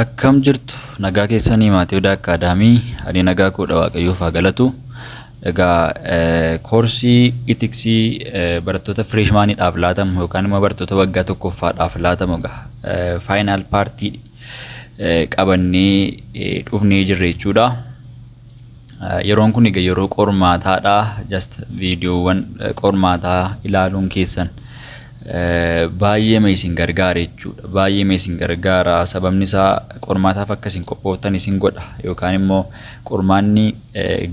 Akkam jirtu nagaa keessanii maatii odaa akkaadaamii ani nagaa koodha waaqayyoof haa galatu. Egaa koorsii itiksii barattoota fireeshmaaniidhaaf laatamu yookaan immoo barattoota waggaa tokkoffaadhaaf laatamu egaa faayinaal paartii qabannee dhufnee jirra jechuudha. Yeroon kun egaa yeroo qormaataadha. Just viidiyoowwan qormaataa ilaaluun keessan baay'eema isin gargaara jechuudha. Baay'eema isin gargaara. Sababni isaa qormaataaf akka isin qophooftan isin godha. Yookaan immoo qormaanni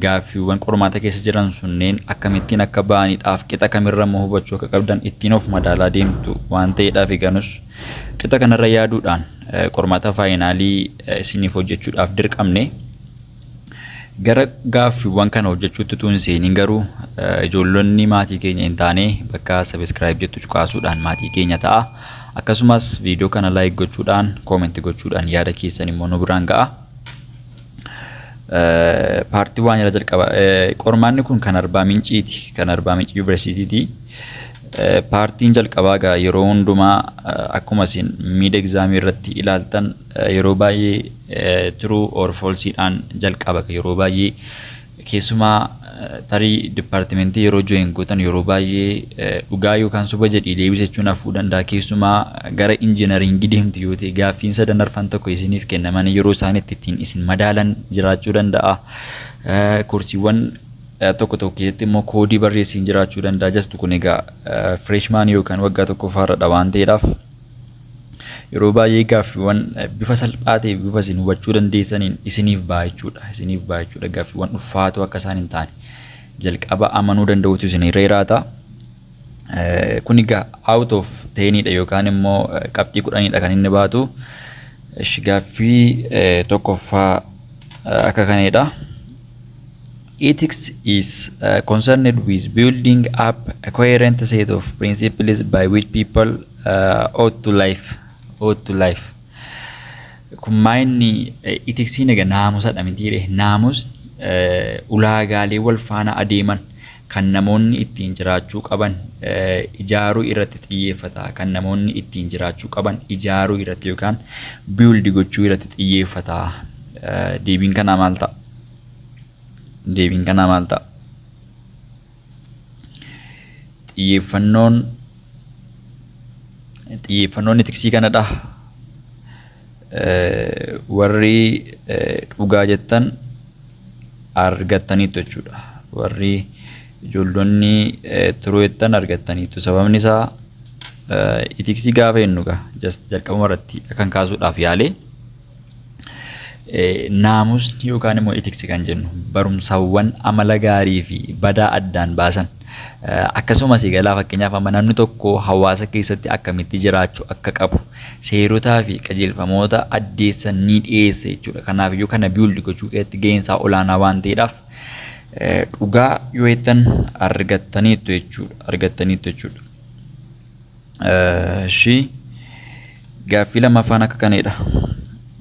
gaaffiiwwan qormaata keessa jiran sunneen akkamittiin akka ba'anidhaaf qixa kamirra immoo hubachuu akka qabdan ittiin of madaalaa deemtu waan ta'eedhaaf eganus qixa kanarra yaaduudhaan qormaata faayinaalii isiniif hojjechuudhaaf dirqamne. Gara gaaffiiwwan kana hojjechuutti utuu hin seeniin garuu ijoollonni maatii keenya hin taane bakka subscribe jettu cuqaasuudhaan maatii keenya ta'a. Akkasumas viidiyoo kana like gochuudhaan comment gochuudhaan yaada keessan immoo nu biraan ga'a. Paartii waan jala jalqaba qormaanni kun kan arbaa minciiti kan arbaa minci yuunivarsiitiiti. Paartiin jalqabaa egaa yeroo hundumaa akkuma isin miid egzaamii irratti ilaaltan Yeroo baay'ee true or false dhaan jalqaba yeroo baay'ee keessumaa tarii departmentii yeroo join gootan yeroo baay'ee dhugaa yookaan soba jedhii deebisa jechuun hafuu danda'a keessumaa gara injinariingii deemtu yoo ta'e gaaffiin sadan arfan tokko isiniif kennaman yeroo isaan itti ittiin isin madaalan jiraachuu danda'a koorsiiwwan tokko tokko keessatti immoo koodii barreessiin jiraachuu danda'a jastu kun egaa freshman yookaan waggaa tokkoffaarra dha waan ta'eedhaaf Yeroo baay'ee gaaffiiwwan bifa salphaa ta'e bifa isin hubachuu dandeessaniin isiniif ba'a jechuudha. Isiniif ba'a jechuudha. Gaaffiiwwan ulfaatoo akka isaan hin taane jalqaba amanuu danda'uutu isinirra jiraata. Kun egaa out of teenidha yookaan immoo qabxii kudhanidha kan inni baatu. Gaaffii tokkoffaa akka kanadha. Ethics is uh, concerned with building up a coherent set of principles by which people uh, ought to life ought to life kun maayinni itiksiin egaa naamusadha mitiire naamus ulaagaalee wal faana adeeman kan namoonni ittiin jiraachuu qaban ijaaruu irratti xiyyeeffata. Kan namoonni ittiin jiraachuu qaban ijaaruu irratti yookaan build gochuu irratti xiyyeeffata. Deebiin kanaa maal ta'a? Deebiin kanaa maal ta'a? Xiyyeeffannoon xiyyeeffannoon etiksii kanadha. Warri dhugaa jettan argattaniittu jechuudha. Warri ijoollonni tiruu jettan argattaniittu. Sababni isaa itiksii gaafa jennu gaa just jalqabuma irratti kan kaasuudhaaf yaalee naamusni yookaan immoo itiksi kan jennu barumsawwan amala gaarii fi badaa addaan baasan akkasumas egaa fakkeenyaaf amma namni tokko hawaasa keessatti akkamitti jiraachuu akka qabu seerotaa fi qajeelfamoota addeessan ni dhiyeessa jechuudha. Kanaaf iyyuu kana build gochuu keessatti gaheen isaa olaanaa waan ta'eedhaaf dhugaa yoo jettan argattaniittu jechuudha. Argattaniittu jechuudha. Shi gaaffii lammaffaan akka kanadha.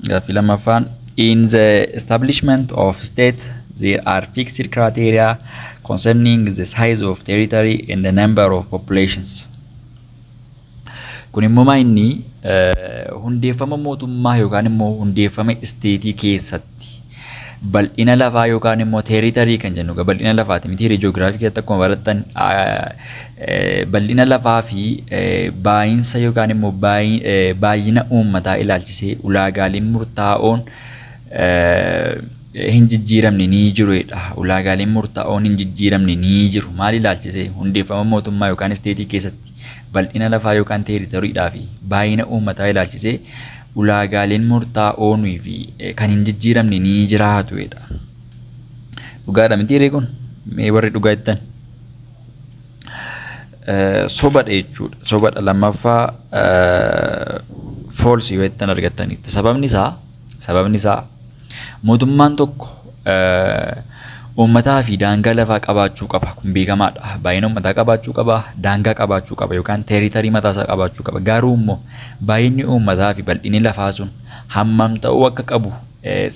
Gaaffii lammaffaan in the establishment of state there are fixed criteria concerning the size of territory and the number of populations. Kun immoo maa inni hundeeffama mootummaa yookaan immoo hundeeffama isteetii keessatti bal'ina lafaa yookaan immoo teeritarii kan jennu bal'ina lafaati miti hiree ji'oogiraafii keessatti akkuma barattan bal'ina lafaa fi baay'insa yookaan immoo baay'ina uummataa ilaalchisee ulaagaaleen murtaa'oon hin jijjiiramne ni jiru jedha. Ulaagaaleen murtaa'oon hin jijjiiramne ni jiru. Maal ilaalchisee hundeeffama mootummaa yookaan isteetii keessatti bal'ina lafaa yookaan teeritoriidhaa fi baay'ina uummataa ilaalchisee ulaagaaleen murtaa'oonii fi kan hin jijjiiramne ni jiraatu jedha. Dhugaadha miti ree kun? Mee warri dhugaa jettan? Sobadha jechuudha. Sobadha lammaffaa foolsii yoo jettan argattanitti. Sababni isaa sababni isaa Mootummaan tokko uummataa fi daangaa lafaa qabaachuu qaba. Kun beekamaadha. Baay'ina uummataa qabaachuu qaba, daangaa qabaachuu qaba yookaan teeritarii mataasaa qabaachuu qaba. Garuu immoo baay'inni uummataa fi bal'inni lafaa sun hammam ta'uu akka qabu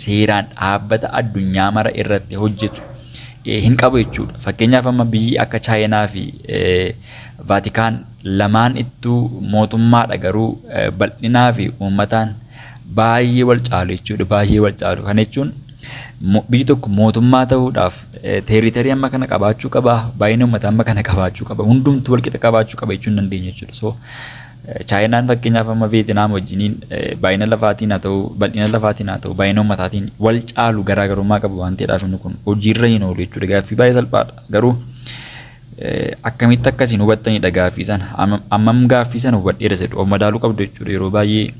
seeraan dhaabbata addunyaa mara irratti hojjetu hin qabu jechuudha. Fakkeenyaaf amma biyyi akka Chaayinaa fi Vaatikaan lamaan ittuu mootummaadha garuu bal'inaa fi uummataan baay'ee wal caalu jechuudha. Baay'ee wal caalu. Kana jechuun mo- biyyi tokko mootummaa ta'uudhaaf eh, teeritarii amma kana qabaachuu qaba, baay'ina uummataa amma kana qabaachuu qaba, hundumtuu walqixa qabaachuu qaba jechuu hin dandeenyu jechuudha. So eh, Chaayinaan fakkeenyaaf amma Veetinaam wajjiniin eh, baay'ina lafaatiin haa ta'u, bal'ina lafaatiin haa ta'u, baay'ina uummataatiin wal caalu garaagarummaa qabu waan ta'eedhaaf inni kun hojiirra hin oolu jechuudha. Gaaffii baay'ee salphaadha. Garuu Akkamitti akka isin hubattanidha gaaffii sana. Ammam gaaffii sana hubadheera isa jedhu of madaaluu qabdu jechuudha. Yeroo baay'ee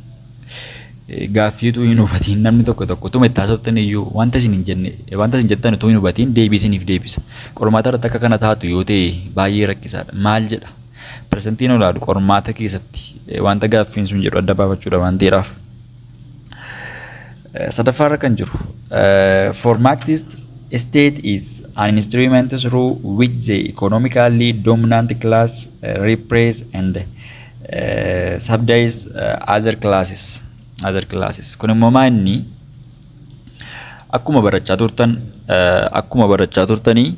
gaaffii utuu hin hubatiin namni tokko tokko utuma itti haasoftan iyyuu wanta isin hin jenne wanta isin jettan utuu hin hubatiin deebii isiniif deebisa. Qormaata irratti akka kana taatu yoo ta'e baay'ee rakkisaadha. Maal jedha? Persentiin olaanu qormaata keessatti wanta gaaffiin sun jedhu adda baafachuudha waan ta'eedhaaf. Sadaffaa irra kan jiru formattist state is an instrument through which the economically dominant class repress and uh, subdies uh, other classes other classes kun immoo maa inni akkuma barachaa turtan uh, akkuma barachaa turtanii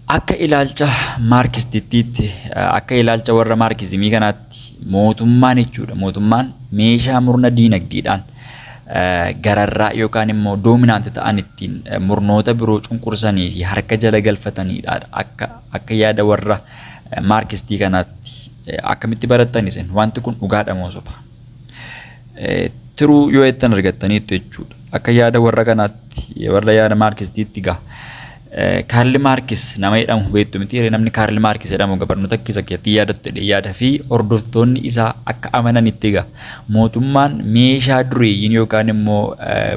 Akka ilaalcha Maarkistittiitti, akka ilaalcha warra Maarkizimii kanaatti, mootummaan jechuudha, mootummaan meeshaa murna diinagdeedhaan gararraa yookaan immoo doominaanti ta'an ittiin murnoota biroo cunqursanii fi harka jala galfataniidha. Akka, akka yaada warra Maarkistii kanaatti akkamitti barattan isin? Wanti kun dhugaadha moo soba? Tiruu yoo jettan argattaniittu jechuudha. Akka yaada warra kanaatti, warra yaada Maarkistiitti gaa. Kaarli Maarkis nama jedhamu beektu mitiiree? Namni Kaarli Maarkis jedhamu egaa barnoota keessa keessatti yaadattu jedhee yaada fi hordoftoonni isaa akka amananitti egaa mootummaan meeshaa dureeyyiin yookaan immoo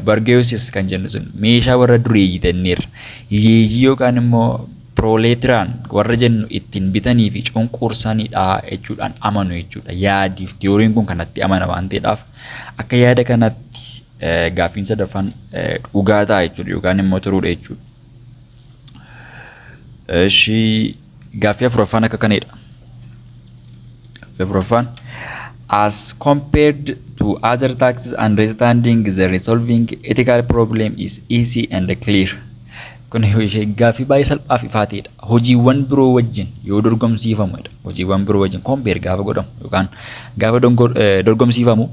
bargeessis kan jennu sun meeshaa warra dureeyyii tenneerra hiyyeeyyii yookaan immoo pirooleetiraan warra jennu ittiin bitanii fi cunqursanidha jechuudhaan amanu jechuudha. Yaadiif tiyooriin kun kanatti amana waan ta'eedhaaf akka yaada kanatti Gaaffiin sadaffaan dhugaa ta'a jechuudha yookaan immoo turuudha jechuudha. Ishii gaaffii afuraffaan akka kanadha. Gaaffii afuraffaan as compared to other taxes understanding the resolving ethical problem is easy and clear. Kun gaaffii baay'ee salphaa fi ifaa ta'edha. Hojiiwwan biroo wajjin yoo dorgomsiifamu jedha. Hojiiwwan biroo wajjin kompeer gaafa godhamu yookaan gaafa dongor- eh, dorgomsiifamu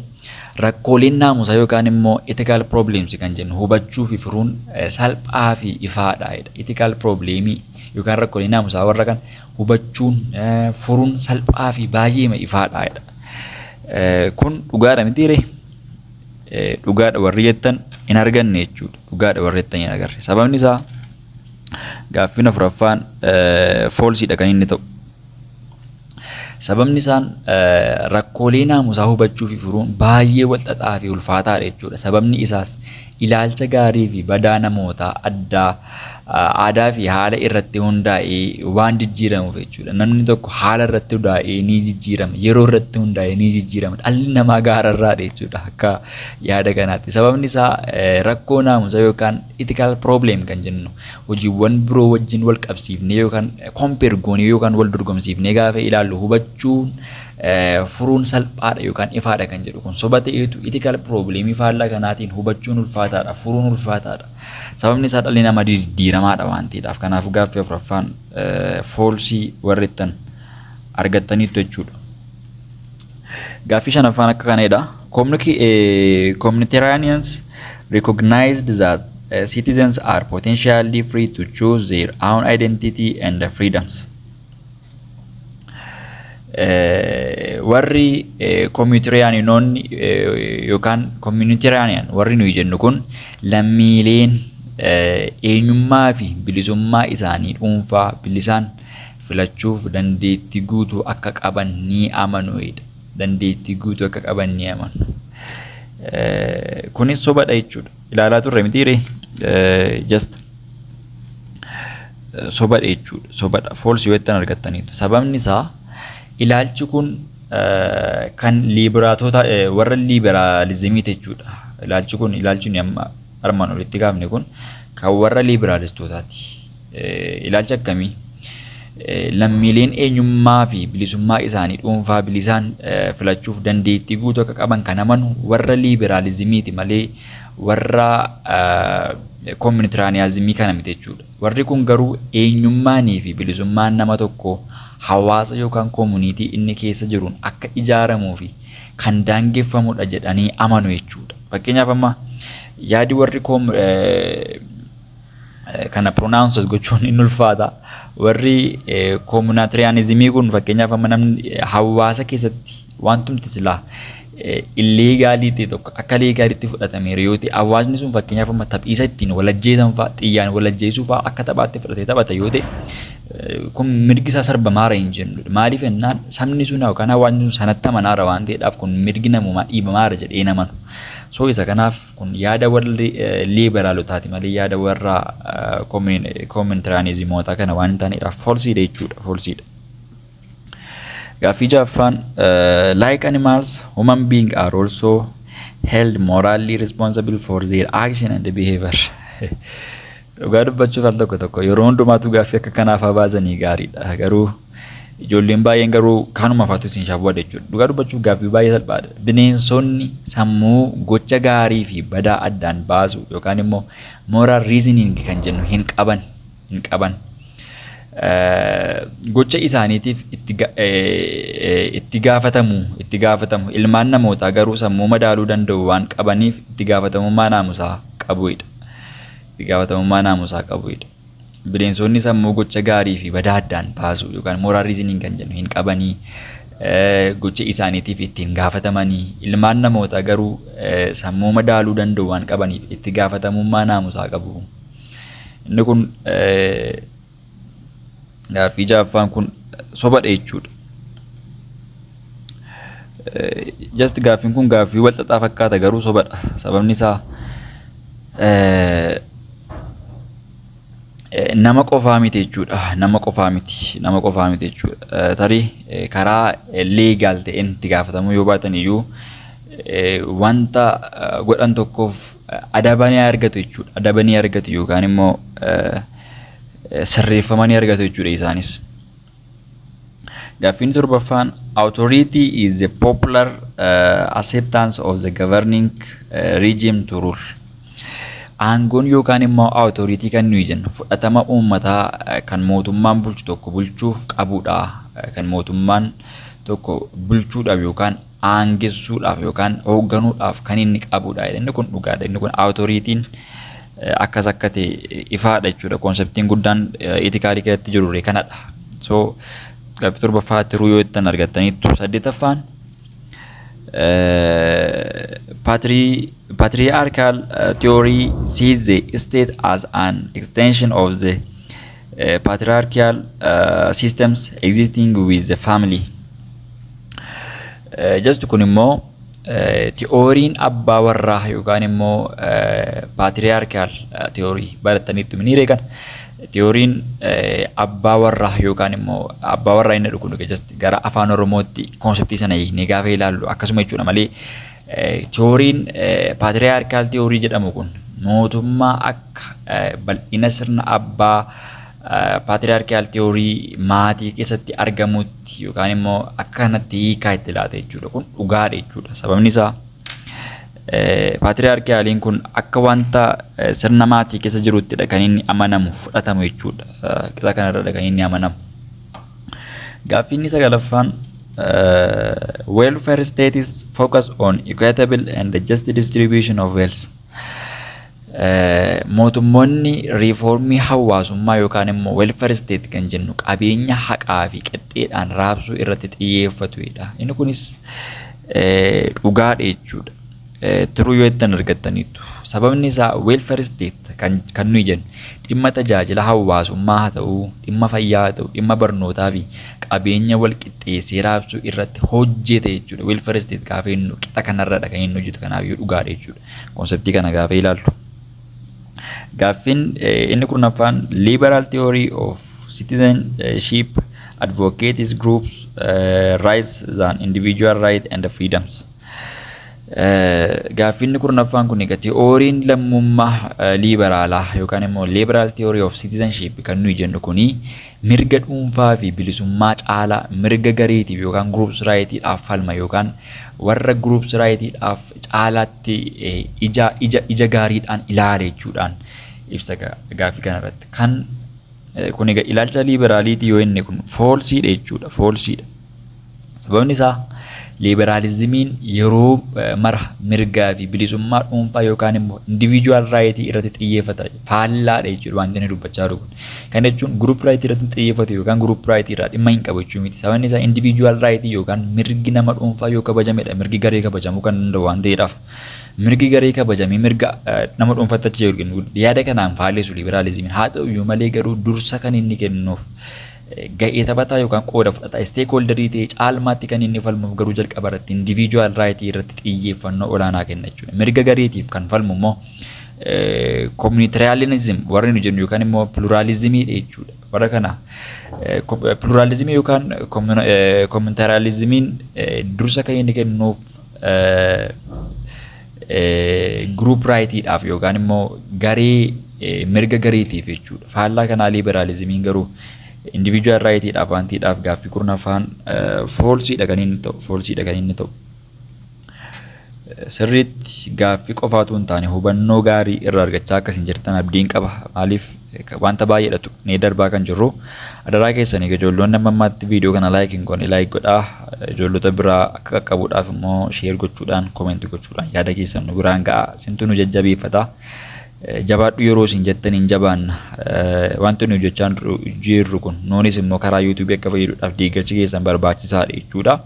rakkooleen naamusaa yookaan immoo ethical problems kan jennu hubachuu fi furuun eh, salphaa fi ifaadha jedha. Ethical problemii yookaan rakkoolee naamusaa warra kan hubachuun eh, furuun salphaa fi baay'eema ifaadha jedha. Eh, Kun dhugaadha mitiiree? dhugaadha warri jettan hin arganne jechuudha. Dhugaadha warri jettan hin agarre. Sababni isaa gaaffiin afuraffaan foolsiidha kan inni ta'u. Sababni isaan rakkoolee naamusaa hubachuu fi furuun baay'ee walxaxaa fi ulfaataadha jechuudha. Sababni isaas ilaalcha gaarii fi badaa namootaa addaa aadaa fi haala irratti hundaa'ee waan jijjiiramuuf jechuudha. Namni tokko haala irratti hundaa'ee ni jijjiirama. Yeroo irratti hundaa'ee ni jijjiirama. Dhalli namaa gaararraadha jechuudha akka yaada kanaatti. Sababni isaa rakkoo naamusa yookaan ethical problem kan jennu hojiiwwan biroo wajjin wal qabsiifnee yookaan compare goonee yookaan wal dorgomsiifnee gaafa ilaallu hubachuun furuun salphaadha yookaan ifaadha kan jedhu kun soba ta'eetu ethical problem faallaa kanaatiin hubachuun ulfaataadha furuun ulfaataadha. Sababni isaa dhalli namaa diddiiramaadha waan ta'eedhaaf. Kanaafuu gaaffii afuraffaan foolsii warri ittan argattaniittu jechuudha. Gaaffii shanaffaan akka kanadha. Communitarians recognized that uh, citizens are potentially free to choose their own identity and freedoms. warri koomiyutiriyaaninoonni yookaan koomiyutiriyaaniyan warri nuyi jennu kun lammiileen eenyummaa fi bilisummaa isaanii dhuunfaa bilisaan filachuuf dandeettii guutuu akka qaban ni amanu dandeettii guutuu akka qaban ni amanu. Kunis sobadha jechuudha. ilaalaa turre mitiire just sobadha jechuudha sobadha foolsi yoo ittiin argattaniitu sababni isaa ilaalchi kun kan liibiraatoota warra liibiraalizimii jechuudha ilaalchi kun ilaalchi nuyi amma armaan olitti kaafne kun kan warra liibiraalistootaati. Ilaalcha akkamii? Lammiileen eenyummaa fi bilisummaa isaanii dhuunfaa bilisaan filachuuf dandeettii guutuu akka qaban kan amanu warra liiberaalizimiiti malee warra koominitiraaniyaazimii kana miti jechuudha. Warri kun garuu eenyummaanii fi bilisummaan nama tokkoo hawaasa yookaan koomuniitii inni keessa jiruun akka ijaaramuu fi kan daangeffamudha jedhanii amanu jechuudha. Fakkeenyaaf amma yaadi warri kana pronounces gochuun hin ulfaata. Warri koomunaatriyaanizimii kun fakkeenyaaf amma namni hawaasa keessatti wantumti silaa illeegaalii ta'e tokko akka leegaaliitti fudhatameera yoo ta'e hawaasni sun fakkeenyaaf amma taphiisa ittiin walajjeesan fa'a xiyyaan walajjeesuu fa'a akka taphaatti fudhatee taphata yoo ta'e kun mirgi isaa sarbamaara hin jennu. Maaliif jennaan sabni sun yookaan hawaasni sun sanatti amanaara waan ta'eedhaaf kun mirgi namoomaa dhiibamaara jedhee hin amanu. So isa kanaaf Kun yaada warri liiberaalotaati malee yaada warra koominitiraanizimootaa kana waan hin taaneedhaaf foolsiidha jechuudha. Foolsiidha. Gaaffii jaaffaan like animals human being are also held morally responsible for their action and behavior. Dhugaa dubbachuuf al tokko tokko yeroo hundumaatuu gaaffii akka kanaa faa baasanii gaariidha garuu ijoolleen baay'een garuu kanuma faatu isin shawwada jechuudha. Dhugaa dubbachuuf gaaffii baay'ee salphaadha. Bineensonni sammuu gocha gaarii fi badaa addaan baasu yookaan immoo moral reasoning kan jennu hin qaban hin qaban. Gocha isaaniitiif itti gaafatamu itti gaafatamu ilmaan namootaa garuu sammuu madaaluu danda'u waan qabaniif itti gaafatamummaa naamusaa qabuidha. itti gaafatamummaa naamusaa qabuudha. Bineensoonni sammuu gocha gaarii fi badaa addaan baasu yookaan moral reasoning kan jennu hin qabanii gocha isaaniitiif ittiin gaafatamanii ilmaan namootaa garuu sammuu madaaluu danda'u waan qabaniif itti gaafatamummaa naamusaa qabu. Inni kun Gaaffii ja'affaan kun sobadha jechuudha. Just gaaffiin kun gaaffii wal xaxaa fakkaata garuu sobadha. Sababni isaa nama qofaa miti jechuudha. Nama qofaa miti. Nama qofaa miti jechuudha. Tarii karaa leegaal ta'een itti gaafatamuu yoo baatan iyyuu wanta godhan tokkoof adaba ni argatu jechuudha. Adaba ni argatu yookaan immoo sirreeffama ni argatu jechuudha isaanis. Gaaffiin torbaffaan authority is the popular uh, acceptance of the governing uh, regime to rule. Aangoon yookaan immoo authority kan nuyi jennu fudhatama uummataa uh, kan mootummaan bulchu tokko bulchuuf qabudha. Uh, kan mootummaan tokko bulchuudhaaf yookaan aangessuudhaaf yookaan hoogganuudhaaf kan inni qabudha jedha. Inni kun dhugaadha. Inni kun awutoriitiin akkas akka ta'e ifaadha jechuudha. Koonseptiin guddaan itikaalii keessatti jirurre kanadha. So gaaffii torbaffaa tiruu yoo ittiin argattaniittu saddeetaffaan patriarchal theory sees the state as an extension of the Uh, patriarchal uh, systems existing with the family. Uh, just kun immoo uh, ti'ooriin abbaa warraa yookaan immoo uh, patriarchal uh, ti'oorii baratanitti ni reekan. Ti'ooriin uh, abbaa warraa yookaan immoo abbaa warraa inni dhugu just gara afaan oromootti konseptii sana hiiknee gaafa ilaallu akkasuma jechuudha malee Tiyooriin Paatiriyaarkaal Tiyoorii jedhamu kun mootummaa akka bal'ina sirna abbaa Paatiriyaarkaal Tiyoorii maatii keessatti argamutti yookaan immoo akka kanatti hiikaa itti laata jechuudha. Kun dhugaadha jechuudha. Sababni isaa Paatiriyaarkaaliin kun akka wanta sirna maatii keessa jiruttidha kan inni amanamu fudhatamu jechuudha. Qixa kanarradha kan inni amanamu. Gaaffii inni sagalaffaan welfare states focus on equitable and just distribution of wealth. Mootummoonni riifoormii hawaasummaa yookaan immoo welfare state kan jennu qabeenya haqaa fi qixxeedhaan raabsuu irratti xiyyeeffatudha. Inni kunis dhugaadha jechuudha. Tiruu yoo jettan argattaniittu. Sababni isaa weel faristeet kan kan nuyi jennu dhimma tajaajila hawaasummaa haa ta'u, dhimma fayyaa haa ta'u, dhimma barnootaa fi qabeenya wal qixxeessee raabsuu irratti hojjete jechuudha. Weel faristeet gaafa jennu qixa kanarradha kan inni hojjetu kanaaf yoo dhugaadha jechuudha. Konseptii kana gaafa ilaaltu. Gaaffiin inni kurnaffaan liberal theory of citizenship advocates groups uh, rights than individual rights and freedoms. Gaaffiinni kurnaffaan kun egaa tiyooriin lammummaa liibaraalaa yookaan immoo liberal theory of citizenship kan nuyi jennu kuni mirga dhuunfaa fi bilisummaa caalaa mirga gareetiif yookaan groups rightidhaaf falma yookaan warra groups rightidhaaf caalaatti ija ija ija gaariidhaan ilaala jechuudhaan ibsa gaaffii kanarratti kan kun egaa ilaalcha liiberaaliitii yoo inni kun foolsiidha jechuudha foolsiidha. Sababni isaa liiberaalizimiin yeroo mara mirgaa fi bilisummaa dhuunfaa yookaan immoo individual right irratti xiyyeeffata faallaadha jechuudha wanti inni dubbachaa jiru kun. Kana jechuun group right irratti xiyyeeffatu yookaan group right irraa dhimma hin qabu jechuu miti. Sababni isaa individual right yookaan mirgi nama dhuunfaa yoo kabajamedha mirgi garee kabajamuu kan danda'u waan ta'eedhaaf. Mirgi garee kabajamee mirga nama dhuunfaatti achi jedhu yaada kanaan faalleessu liiberaalizimiin. Haa ta'u iyyuu malee garuu dursa kan inni kennuuf ga'ee taphataa yookaan qooda fudhataa, stakeholder, ta'ee caalmaatti kan inni falmuuf garuu jalqaba irratti individual right irratti xiyyeeffannoo olaanaa kenna jechuudha. Mirga gareetiif kan falmu immoo communitarianism warri nu jennu yookaan immoo pluralismii dha jechuudha. Warra kana pluralismii yookaan communitarianismiin dursa kan inni kennuuf group right dhaaf yookaan immoo garee mirga gareetiif jechuudha. Faallaa kanaa liberaalizimiin garuu individual right dhaaf waan ta'eedhaaf gaaffii kurnaffaan foolsiidha kan inni ta'u foolsiidha kan inni ta'u. Sirriitti gaaffii qofaatu hin taane hubannoo gaarii irraa argachaa akkasiin jirtan abdiin qaba maaliif Wanta baay'eedha tuqnee darbaa kan jirru. Adaraa keessan egaa ijoolloonni amma ammaatti viidiyoo kana laayik hin goone laayik godhaa. Ijoollota biraa akka qaqqabuudhaaf immoo sheer gochuudhaan koomenti gochuudhaan yaada keessan nu biraan ga'a. Isintu nu jajjabeeffata. Jabaadhu yeroo isin jettan hin jabaanna. Wanti nuyi hojjechaa jirru kun nuunis immoo karaa yuutuubii akka fayyadudhaaf deeggarsi keessan barbaachisaadha jechuudha.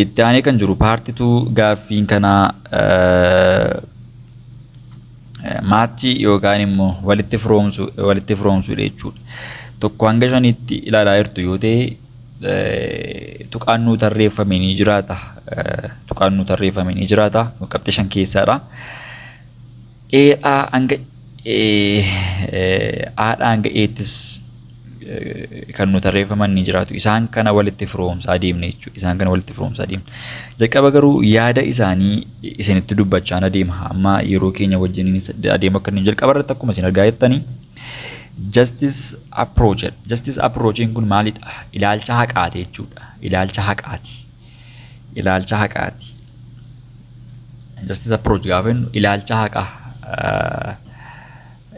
Itti aanee kan jiru paartituu gaaffiin kanaa maachii yookaan immoo walitti firoomsuu walitti firoomsuudha jechuudha. Tokko hanga shaniitti ilaalaa jirtu yoo ta'e tuqaan nuu tarreeffame ni jiraata. Tuqaan nuu tarreeffame ni jiraata. Qabxii shan keessaadha. Ee'aa hanga Ee'aadhaa hanga Eettis kan nu tarreeffaman ni jiraatu. Isaan kana walitti firoomsaa deemne jechuudha. Isaan kana walitti firoomsaa deemne. Jalqaba garuu yaada isaanii isinitti dubbachaan adeema. Amma yeroo keenya wajjin adeemu akka inni jalqaba irratti akkuma isin argaa jirtanii justice approach. Justice approachiin kun maalidha? Ilaalcha haqaati jechuudha. Ilaalcha haqaati. ilaalcha haqaati. Justice approach gaafa jennu ilaalcha haqaa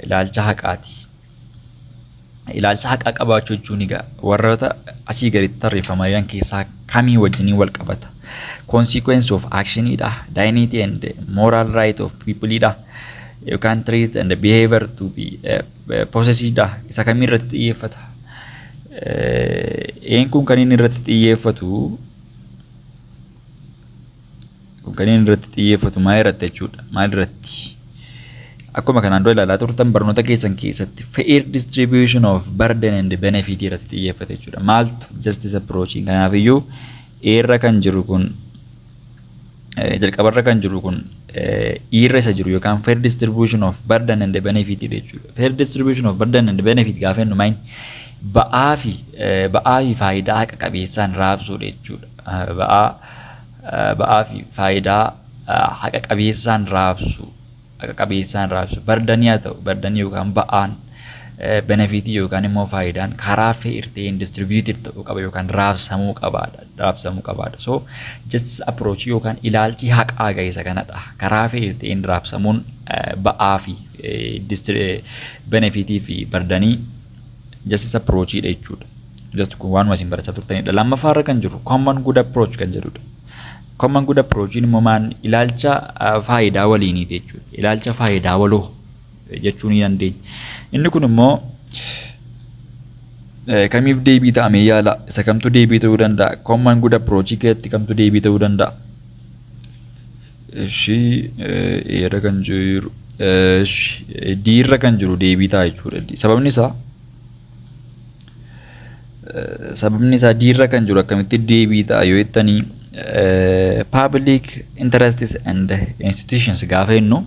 ilaalcha haqaati. Ilaalcha haqaa qabaachuu jechuun egaa warroota asii gaditti tarreeffamaa jiran keessaa kamii wajjinii wal qabata. Consequence of action dha. Dignity and moral right of people dha. You can treat and behavior to be uh, Possessive dha. Isa kamii irratti xiyyeeffata? Een kun kan inni irratti xiyyeeffatu kun kan inni irratti xiyyeeffatu maal irratti jechuudha? Maal irratti? Akkuma kanaan dura ilaalaa turtan barnoota keessan keessatti fair distribution of burden and benefit irratti xiyyeeffate jechuudha. Maaltu justice approach kanaaf iyyuu Eerra kan jiru kun jalqabarra kan jiru kun irra isa jiru yookaan fair distribution of burden and benefit jechuudha. Fair distribution of burden and benefit gaafa jennu maayini ba'aa fi ba'aa fi faayidaa haqa qabeessaan raabsuudha jechuudha. Ba'aa ba'aa fi faayidaa haqa qabeessaan raabsu haqa qabeessaan raabsa. Bardanii haa ta'u, bardanii yookaan ba'aan, benefiitii yookaan immoo faayidaan karaa fair ta'een distributed ta'uu qaba yookaan raabsamuu qabaadha. Raabsamuu qabaadha. So justice approach yookaan ilaalchi haqaa ga'eessa kanadha. Karaa fair ta'een raabsamuun ba'aa fi benefiitii fi bardanii justice approach dha jechuudha. Just kun waanuma isin barachaa turtanidha. Lammaffaa irra kan jiru common good approach kan jedhudha. Common good approach immoo maan ilaalcha faayidaa waliiniiti jechuudha. Ilaalcha faayidaa waloo jechuu ni dandeenya. Inni kun immoo kamiif deebii ta'a mee yaala isa kamtu deebii ta'uu danda'a common good approach keessatti kamtu deebii ta'uu danda'a. Ishii eera kan jiru diirra kan jiru deebii ta'a jechuudha. Sababni isaa sababni isaa diirra kan jiru akkamitti deebii ta'a yoo jettanii public interests and institutions gaafa jennu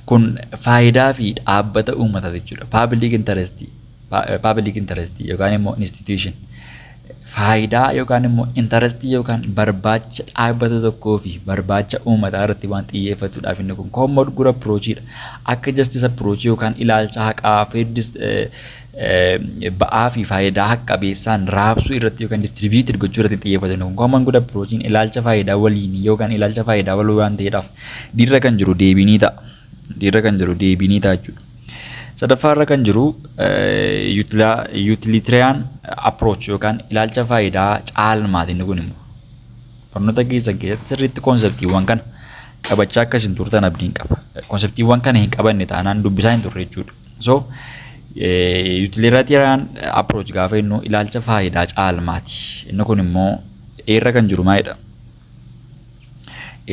kun faayidaa fi dhaabbata uummataa jechuudha. Public interest, public interest yookaan immoo institution. faayidaa yookaan immoo intarastii yookaan barbaacha dhaabbata tokkoo fi barbaacha uummataa irratti waan xiyyeeffatudha. Inni kun koomood gura piroochiidha. Akka jastisa piroochii yookaan ilaalcha haqaa feeddis ba'aa fi faayidaa haqa qabeessaan raabsuu irratti yookaan distribiitir gochuu irratti xiyyeeffatu. Inni kun koomoon gura piroochiin ilaalcha faayidaa waliinii yookaan ilaalcha faayidaa waloo waan ta'eedhaaf dirra kan jiru deebii ni ta'a. irra kan jiru deebii ni ta'a jechuudha. Sadaffaa irra kan jiru utilitarian approach yookaan ilaalcha faayidaa caalmaati inni kun immoo. Barnoota keessan keessatti sirriitti konseptiiwwan kana qabachaa akka isin turtan abdiin qaba. Konseptiiwwan kana hin qabanne taanaan dubbisaa hin turre jechuudha. So utilitarian approach gaafa jennu ilaalcha faayidaa caalmaati. Inni kun immoo irra kan jiru maalidha?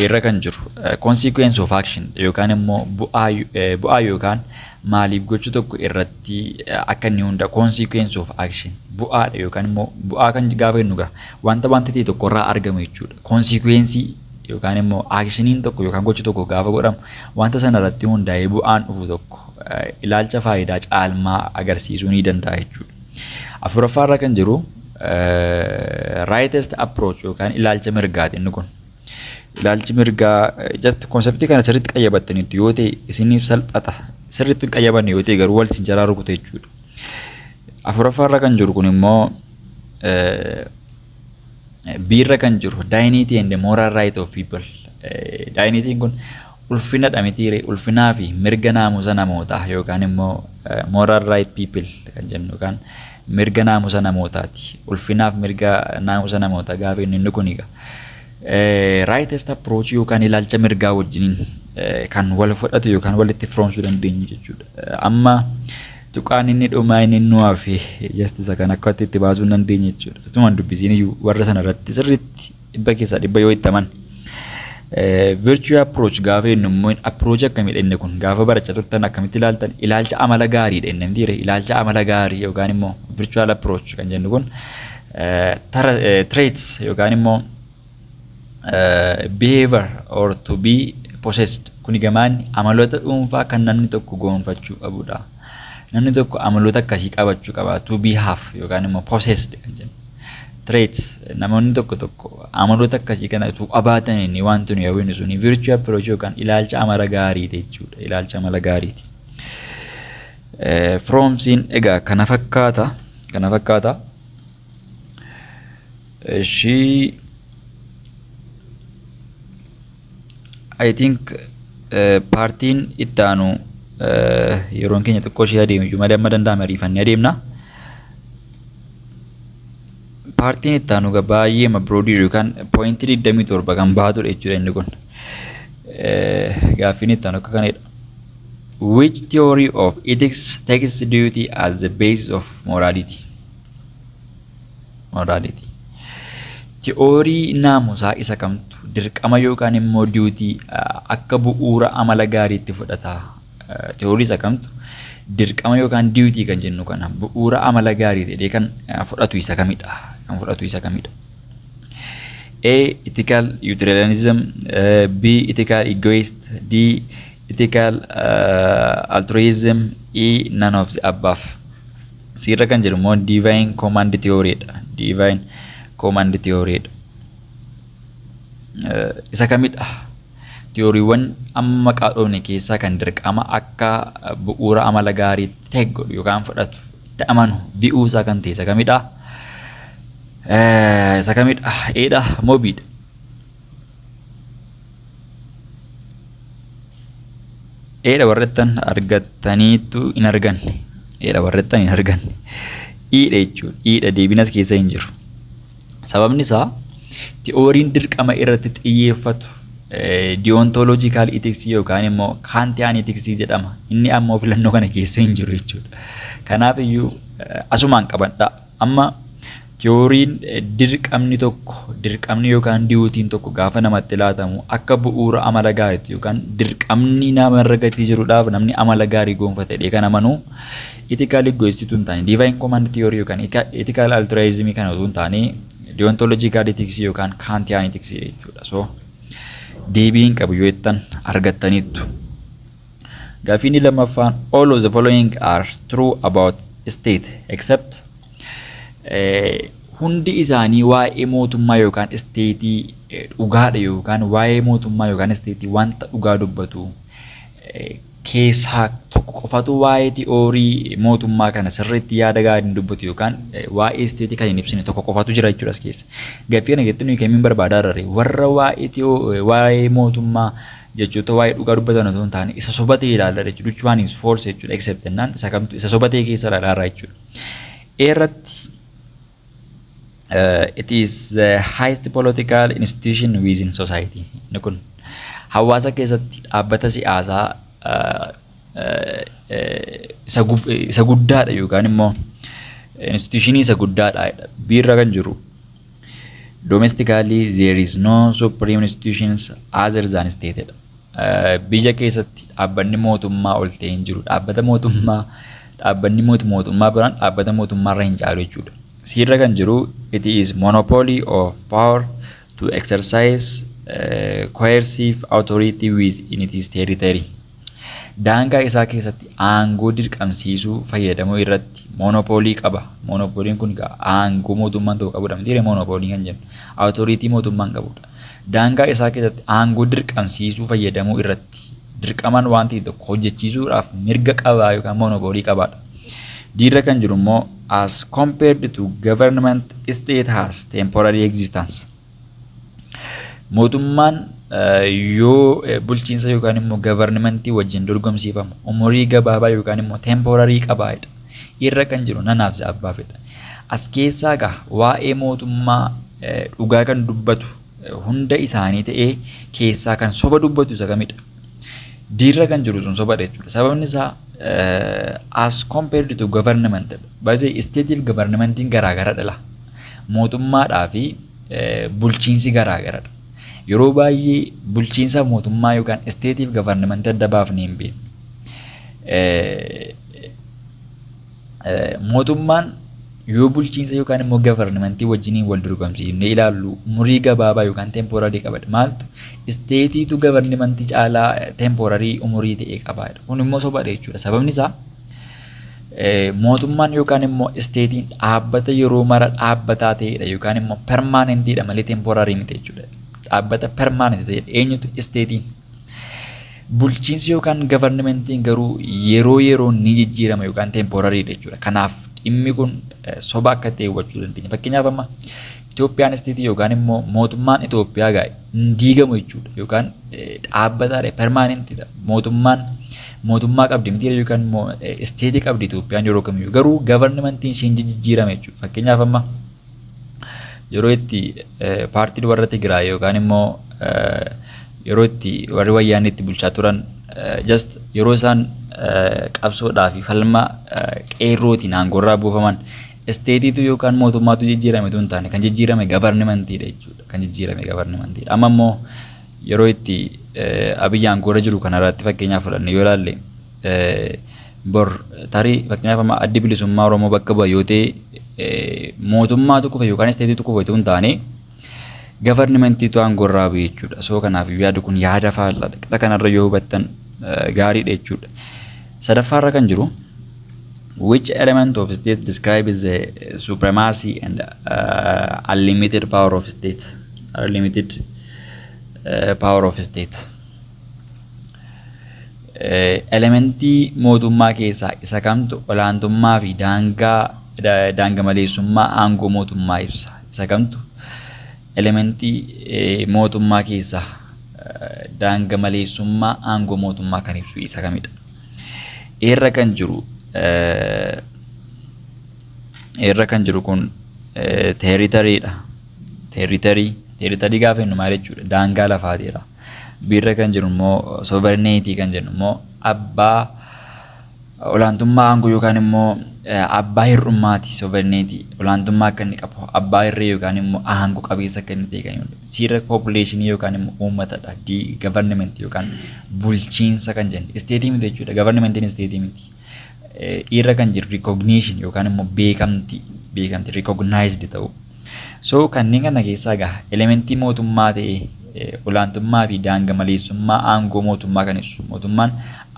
irra kan jiru consequence of action yookaan immoo bu'aa yookaan maaliif gochuu tokko irratti akka inni hunda consequence of action bu'aadha yookaan immoo bu'aa kan gaafa jennu gaa wanta wanta ta'e tokko irraa argamu jechuudha consequence yookaan immoo actioniin tokko yookaan gochi tokko gaafa godhamu wanta sana irratti hundaa'ee bu'aan dhufu tokko ilaalcha faayidaa caalmaa agarsiisuu ni danda'a jechuudha. Afuraffaa irra kan jiru rightest approach yookaan ilaalcha mirgaati inni kun. Ilaalchi mirgaa just konseptii kana sirriitti qayyabattaniitu yoo ta'e isiniif salphata. Sirriitti hin qayyabanne yoo ta'e garuu wal isin jalaa rukuta jechuudha. Afuraffaa irra kan jiru kun immoo biirra kan jiru dignity and moral right of people. Dignitiin kun Ulfina dha mitii ree? Ulfinaa fi mirga naamusa namootaa yookaan immoo moral right people kan jennu yookaan mirga naamusa namootaati. Ulfinaaf mirga naamusa namootaa gaafa jennu inni kun egaa rightest approach yookaan ilaalcha mirgaa wajjiniin kan wal fudhatu yookaan walitti firoomsuu dandeenyu jechuudha. Amma tuqaan inni dhumaa inni nu hafe justice kan akka itti baasuu hin dandeenye jechuudha. Asumaan dubbisiin iyyuu warra sana irratti sirriitti Dhibba keessaa dhibba yoo itti aman. Virtue approach gaafa jennu immoo approach akkamiidha inni kun gaafa barachaa turtan akkamitti ilaaltan ilaalcha amala gaariidha inni miti ilaalcha amala gaarii yookaan immoo virtual approach kan jennu kun traits yookaan immoo behavior or to be possessed kuni gamaan amaloota dhuunfaa kan namni tokko goonfachuu qabudha. Namni tokko amaloota akkasii qabachuu qaba. To be have yookaan immoo possessed kan jennu. Traits namoonni tokko tokko amaloota akkasii kana utuu qabaatanii ni wanti nuyi hawwinu suni virtue approach yookaan ilaalcha amala gaariiti jechuudha. Ilaalcha amala gaariiti. Eh, From siin egaa kana fakkaata. Kana fakkaata. Ishii I think paartiin itti aanu yeroon keenya xiqqoo ishee adeemu iyyuu malee amma danda'ame ariifannee adeemna. Paartiin itti aanu egaa baay'ee mabroodii yookaan pooyintii digdamii torba kan baatudha jechuudha inni kun. Gaaffiin itti aanu akka kanadha. Which theory of ethics takes duty as the basis of morality? Morality. Ti'oorii naamusaa isa kamtu dirqama yookaan immoo duty akka bu'uura amala gaariitti fudhata? Ti'oorii isa kamtu dirqama yookaan duty kan jennu kana bu'uura amala gaarii jedhee kan fudhatu isa kamidha? Kan fudhatu isa kamidha? A. Ethical utilitarianism B. Ethical egoist D. Ethical uh, altruism E. None of the above Siirra kan jiru immoo divine command theory dha. Divine command theory dha. Isa kamidha? Tiyooriiwwan amma maqaa dhoofne keessaa kan dirqama akka bu'uura amala gaariitti ta'e godhu yookaan fudhatu itti amanu bi'uu isaa kan ta'e isa kamidha? Isa kamidha? Eedha moo biidha? eedha warrettan argattaniittu hin arganne eedha warrettan hin arganne iidha jechuudha iidha deebinas keessa hin jiru sababni isaa ti'ooriin dirqama irratti xiyyeeffatu diyoontooloojikaal itiksii yookaan immoo kaantiyaan itiksii jedhama inni ammoo filannoo kana keessa hin jiru jechuudha kanaaf iyyuu asumaan qabadhaa Amma tiyooriin dirqamni tokko, dirqamni yookaan diyuutiin tokko gaafa namatti laatamu akka bu'uura amala gaariitti yookaan dirqamni nama irra gatii jirudhaaf namni amala gaarii goonfate jedhee kan amanu ethical egoist utuu hin taane divine command theory yookaan ethical altruism kana utuu hin taane deontological ethics yookaan kantian ethics jechuudha. So deebiin qabu yoo jettan argattaniittu. Gaaffii inni lammaffaan all of the following are true about state except eh, hundi isaanii waa'ee mootummaa yookaan isteetii eh, dhugaadha yookaan waa'ee mootummaa yookaan isteetii wanta dhugaa dubbatu eh, keessaa tokko qofatu waa'ee ti'oorii mootummaa kana sirriitti yaada gaarii hin dubbatu yookaan eh, waa'ee isteetii kan hin ibsine tokko qofatu jira jechuudha as keessa. Gaaffii kana keessatti nuyi kamiin barbaadaa irra warra waa'ee ti'oo- eh, waa'ee mootummaa jechoota waa'ee dhugaa dubbatan osoo hin taane isa soba ta'e ilaalladha jechuudha. Which one is false jechuudha except jennaan isa kamtu isa soba ta'e keessa ilaalaa jechuudha. A irratti uh, it is the highest political institution within society. Inni kun hawaasa keessatti dhaabbata siyaasaa uh, uh, uh, isa gub- isa guddaadha yookaan immoo institutionii isa guddaadha biirra kan jiru Domestically there is no supreme institutions other than state jedha. Biyya keessatti dhaabbanni mootummaa ol ta'e hin jiru. Dhaabbata mootummaa dhaabbanni mootu mootummaa biraan dhaabbata mootummaarra hin caalu jechuudha. Siirra kan jiru it is monopoly of power to exercise uh, coercive authority within its territory. daangaa isaa keessatti aangoo dirqamsiisuu fayyadamuu irratti moonopoolii qaba. Moonopooliin kun egaa aangoo mootummaan tokko qabudha mitiire moonopoolii kan jennu. Awutoriitii mootummaan qabudha. Daangaa isaa keessatti aangoo dirqamsiisuu fayyadamuu irratti dirqamaan waan ta'e tokko hojjechiisuudhaaf mirga qabaa yookaan moonopoolii qabaadha. Diirra kan jiru immoo as compared to government state has temporary existence. Mootummaan yoo bulchiinsa yookaan immoo gavarnimentii wajjin dorgomsiifamu umurii gabaabaa yookaan immoo temporarii qabaadha. Irra kan jiru nanaaf abbaafidha. As keessaa egaa waa'ee mootummaa dhugaa kan dubbatu hunda isaanii ta'ee keessaa kan soba dubbatu isa kamidha. Diirra kan jiru sun sobadha jechuudha. Sababni isaa as compared to government baay'ee isteetiif gavarnimentiin garaagaraa dhala. mootummaadhaa fi bulchiinsi garaa garadha. Yeroo baay'ee bulchiinsa mootummaa yookaan isteetiif gavarnimantii adda baafnee hin beeknu. Mootummaan yoo bulchiinsa yookaan immoo gavarnimantii wajjiniin wal dorgomsiifnee ilaallu umurii gabaabaa yookaan teempoorarii qaba. Maaltu isteetiitu gavarnimantii caalaa teempoorarii umurii ta'e qaba. Kun immoo sobadha jechuudha. Sababni isaa Mootummaan yookaan immoo isteetiin dhaabbata yeroo mara dhaabbataa ta'edha yookaan immoo permaanentiidha malee temporarii miti jechuudha. Dhaabbata permaanenti ta'edha. Eenyutu isteetiin? Bulchiinsi yookaan gavarnimentiin garuu yeroo yeroo ni jijjiirama yookaan temporariidha jechuudha. Kanaaf dhimmi kun soba akka ta'e hubachuu dandeenya. Fakkeenyaaf amma Itoophiyaan isteetii yookaan immoo mootummaan Itoophiyaa gaa hin diigamu jechuudha yookaan dhaabbataadha permaanentidha mootummaan mootummaa qabdi miti yookaan immoo isteetii qabdi Itoophiyaan yeroo kamiyyuu garuu gavarnimantiin ishee hin jijjiirame jechuudha fakkeenyaaf amma yeroo itti paartiin warra Tigraay yookaan immoo yeroo itti warri wayyaanee itti bulchaa turan just yeroo isaan qabsoodhaa fi falma qeerrootiin aangoorraa buufaman Isteetiitu yookaan mootummaatu jijjiirame utuu hin taane kan jijjiirame gavarnimantiidha jechuudha. Kan jijjiirame gavarnimantiidha. Amma immoo yeroo itti Abiy aangoorra jiru kanarratti fakkeenyaaf fudhanne yoo ilaalle bor tarii fakkeenyaaf amma addi bilisummaa Oromoo bakka bu'a yoo ta'e mootummaatu kufe yookaan isteetiitu kufe utuu hin taane gavarnimantiitu aangoorra bu'e jechuudha. Soo kanaaf yaadi kun yaada faallaadha. Qixa kanarra yoo hubattan gaariidha jechuudha. Sadaffaarra kan jiru Which element of state describes the supremacy and uh, unlimited power of state? Unlimited uh, power of state. Uh, elementii mootummaa keessaa isa kamtu olaantummaa fi daangaa da- daanga maleessummaa aangoo mootummaa ibsa. Isa kamtu elementii uh, mootummaa keessaa uh, daanga maleessummaa aangoo mootummaa kan ibsu isa kamidha? Eerra kan jiru eerra kan jiru kun teeritariidha. Teeritarii teeritarii gaafa jennu maal jechuudha? Daangaa lafaatiidha. Biirra kan jiru immoo sooverineetii kan jennu immoo abbaa olaantummaa aangoo yookaan immoo abbaa hir'ummaati sooverineetii olaantummaa akka inni qabu abbaa irree yookaan immoo aangoo qabeessa akka inni ta'e kan himudha. C irra population yookaan immoo uummatadha. D government yookaan bulchiinsa kan jennu. State miti jechuudha. Governmentiin state miti. E irra kan jiru recognition yookaan immoo beekamti beekamti recognized ta'u. So kanneen kana keessaa egaa elementii mootummaa ta'e olaantummaa fi daanga maleessummaa aangoo mootummaa kan ibsu. Mootummaan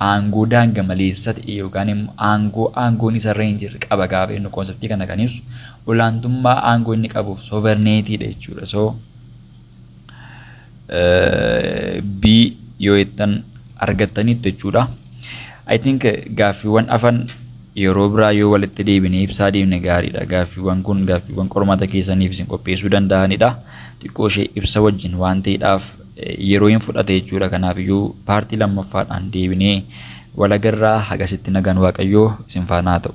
aangoo daanga maleessa ta'e yookaan immoo aangoo aangoon isarra hin jirre qaba gaafa jennu konseptii kana kan ibsu olaantummaa aangoo inni qabuuf sovereignty dha jechuudha. So B yoo jettan argattaniittu jechuudha. I think gaaffiiwwan afan yeroo biraa yoo walitti deebinee ibsaa deemne gaariidha. Gaaffiiwwan kun gaaffiiwwan qormaata keessaniif isin qopheessuu danda'anidha. Xiqqoo ishee ibsa wajjin waan ta'eedhaaf yeroo hin fudhate jechuudha. Kanaafiyyuu paartii lammaffaadhaan deebinee walagarraa hagasitti nagaan waaqayyoo isin faanaa ta'u.